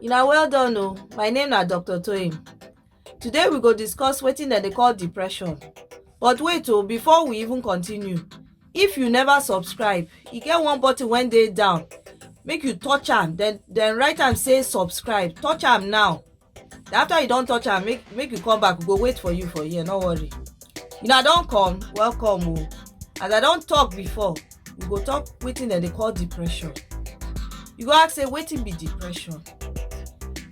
Una well done o, my name na Doctor Toyin. Today we go discuss wetin dem dey call depression. But wait o, before we even continue, if you never subscribe, e get one button wey dey down, make you touch am, then then write am say subscribe, touch am now. After you don touch am, make make you come back, we go wait for you for here, no worry. Una don come, welcome o. As I don talk before, we go talk wetin dem dey call depression. You go ask say wetin be depression?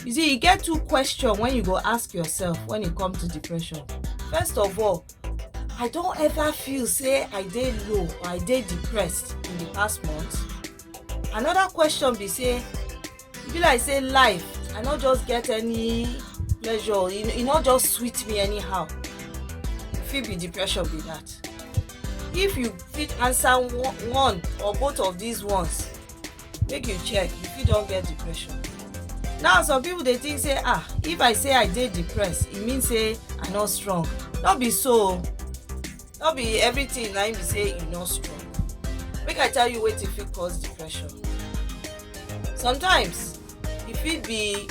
You see e get two question wey you go ask yourself when e come to depression. First of all, I don ever feel say I dey low or I dey depressed in the past month? Another question be say e be like say life i no just get any pleasure e, e no just sweet me anyhow e fit be depression be that if you fit answer one or both of these ones make you check you fit don get depression now some people dey think say ah if i say i dey depressed e mean say i no strong no be so no be everything na im be say you no strong make i tell you wetin fit cause depression sometimes e fit be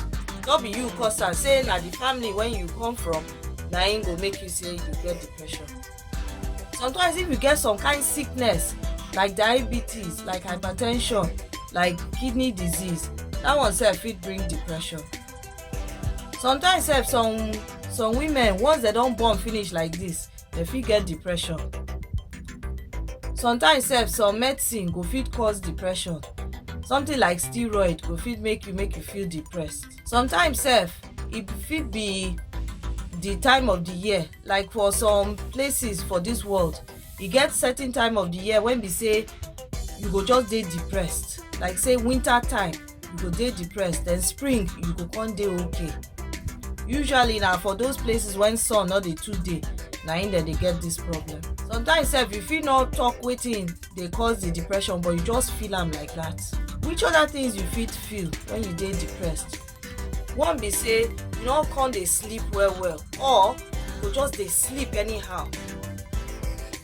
no be you cause am say na the family wey you come from na im go make you say you get depression sometimes if you get some kind sickness like diabetes like hypertension like kidney disease that one sef fit bring depression sometimes sef some some women once dem don born finish like this dem fit get depression sometimes sef some medicine go fit cause depression something like steroid go fit make you make you feel depressed sometimes sef e fit be the time of the year like for some places for this world e get certain time of the year when be say you go just dey depressed like say winter time you go dey depressed then spring you go come dey okay usually na for those places when sun no dey too dey na im dem dey get this problem sometimes sef you fit no talk wetin dey cause the depression but you just feel am like that which other things you fit feel when you dey depressed one be say you no come dey sleep well well or you go just dey sleep anyhow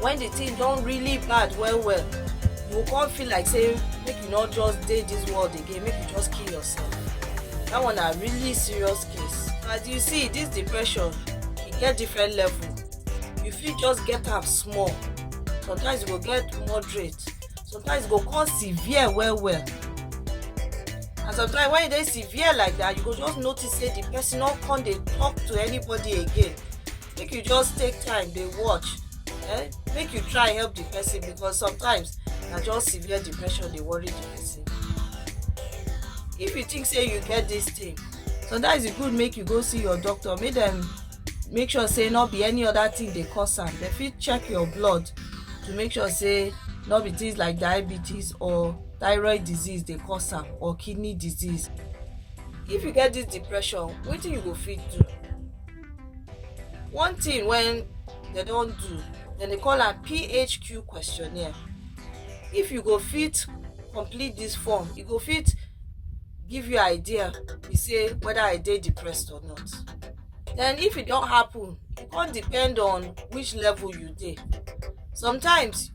When the thing don really bad well well, you go come feel like say make you not just dey this world again, make you just kill yourself. That one na really serious case. As you see, this depression e get different level. You fit just get am small, sometimes you go get moderate, sometimes e go come severe well well. And sometimes when e dey severe like that, you go just notice say the person no come dey talk to anybody again. make you just take time dey watch eh make you try help the person because sometimes na just severe depression dey worry the person if you think say you get this thing sometimes e good make you go see your doctor make dem make sure say no be any other thing dey cause am dem fit check your blood to make sure say no be things like diabetes or thyroid disease dey cause am or kidney disease if you get this depression wetin you go fit do one thing when they don't do then they call am phq questionnaire if you go fit complete this form you go fit give you idea be say whether i dey depressed or not then if it don't happen it come depend on which level you dey sometimes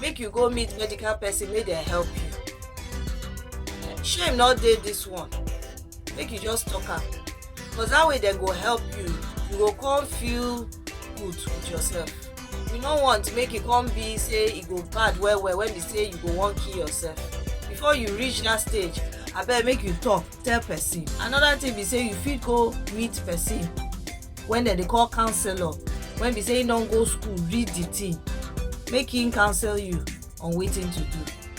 make you go meet medical person make dem help you shame no dey this one make you just talk am because that way dem go help you you go come feel good with yourself you no want make e come be say e go bad well well when be say you go wan kill yourself before you reach that stage abeg make you talk tell person another thing be say you fit go meet person when dem dey call counselor when be say him don go school read the thing make him counsel you on wetin to do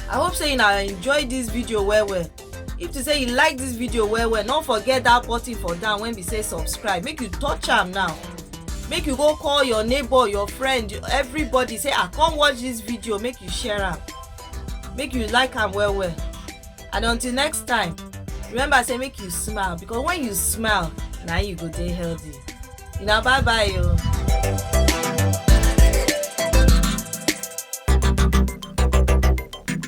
i hope say una enjoy this video well well if to say you like this video well well no forget that button for down when be say subscribe make you touch am now make you go call your neighbor your friend everybody say ah come watch this video make you share am make you like am well well and until next time remember say make you smile because when you smile na you go dey healthy una bye bye o. Oh.